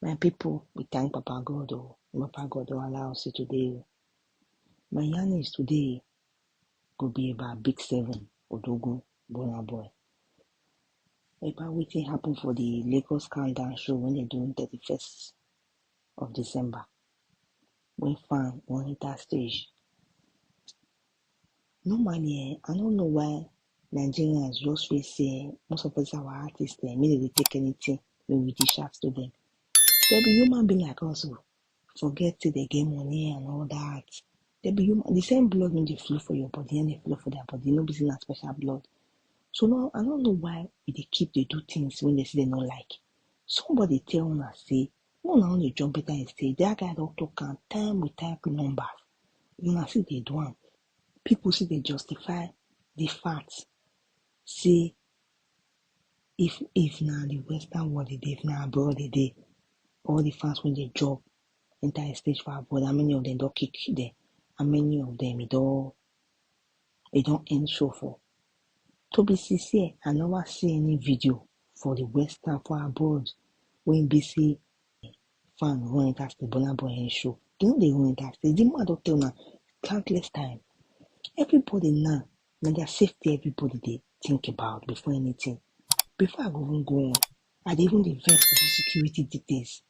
My people, we thank Papa God. Oh, Papa God don't allow us today. oh. My yarn is today go be about big seven, Odogo, Bona Boy. About what thing happen for the Lagos countdown show when they doing 31st of December. When fan on enter stage, Normally, eh, I don't know why Nigerians just feel say most of us our artists they immediately they dey take anything we we dish out to them. They be human being like us oh. Forget till they get money and all that. They be human the same blood when they flow for your body and they flow for their body, no be say na special blood. So now I don't know why we dey keep they do things when they say they not like. Somebody tell una say No, na only John Peter and say that guy don talk am time with time numbers. Una see dey do am. People see dey justify the fact say if if na the western world e dey, if na abroad e dey, all the fans wey dey job enter a stage for abroad, how many of them don kick them? How many of them e don e don end show for to be sincere i never see any video for the western for abroad wey be say fan run enter the burna boy end show they no dey run enter the the man don tell una countless time everybody now na their safety everybody dey think about before anything before i go even go on i dey even dey vex for the security details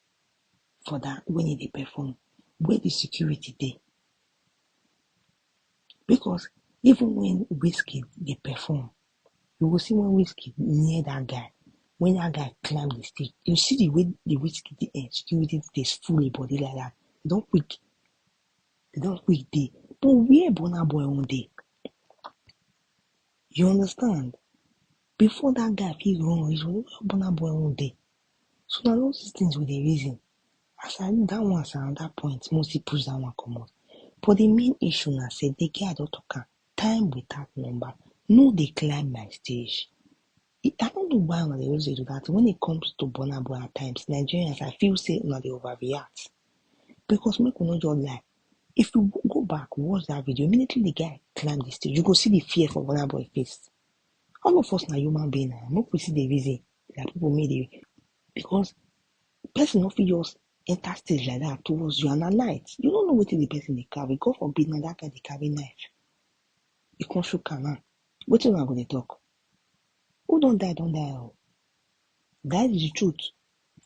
for that when e dey perform where the security dey Because even when Wizkid dey perform, you go see when Wizkid near that guy, when that guy climb the stage, you see the way the Wizkid dey execute it, dey full him body like that. They don't quick, they don't quick dey. But where Burna Boy own dey? You understand? Before that guy fit run reach, where Burna Boy own dey? So na all these things we dey reason. As I look dat one as anoda point make we still push dat one commot but di main issue na say di girl don talk am time without number no dey climb my stage I no know why una dey always dey do dat thing when it comes to Burna Boy at times Nigerians I feel say una dey over react because make we no just lie if you go back watch dat video immediately di guy climb di stage you go see di fear for Burna Boy face all of us na human being na make we still dey reason like people make dey because person no fit just enter stage like that towards you and at night you no know wetin the person dey carry god forbid na that guy dey carry knife you come shook am now wetin una go dey talk who don die don die o that is the truth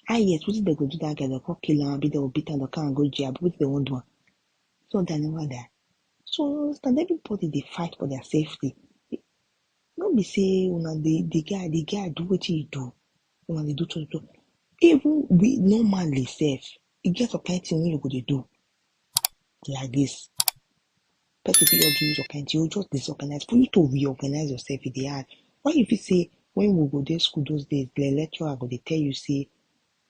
ah yes wetin dem go do that guy dem come kill am abi dem go beat am dem carry am go jail abi wetin dem wan do am if don die never die so you understand everybody dey fight for their safety no be say una dey the guy the guy do wetin he do una dey do to to even we normally sef e get some kind thing wey you go dey do like this person fit just do you some kind thing you go just disorganize for you to reorganize yourself e dey hard why you fit say when we go dey school those days the lecturer go dey tell you say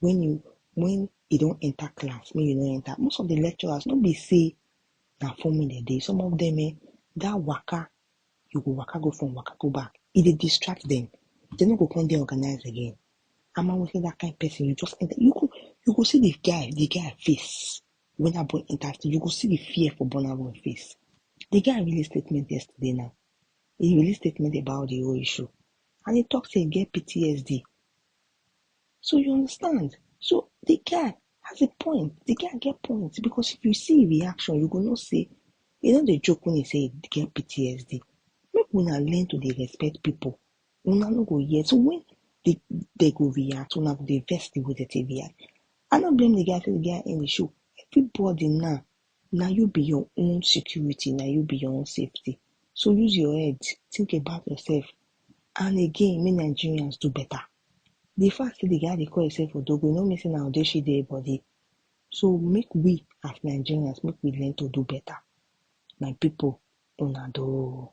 when you when you don enter class make you no enter most of the lecturers no be say na forming dem dey some of them eh that waka you go waka go front, waka go back. E dey distract them. They no go come dey organized again. I'm always that kind of person. You just enter. You go, you go see the guy, the guy face. When I boy enters, you go see the fear for Burna Boy face. The guy released statement yesterday now. He released statement about the whole issue. And he talks say he get PTSD. So you understand? So the guy, Has a point. The guy get point because if you see reaction, you go know say e no dey joke when he say he get PTSD. Make una learn to dey respect people. Una no go hear. So when they, they go react, una go dey vex the way they take react. I no blame the guy say the guy end the show. Everybody now na you be your own security na you be your own safety so use your head think about yourself and again make nigerians do better the fact say the guy dey call himself odogo e no mean say na odeshi dey him body so make we as nigerians make we learn to do better my people una do o.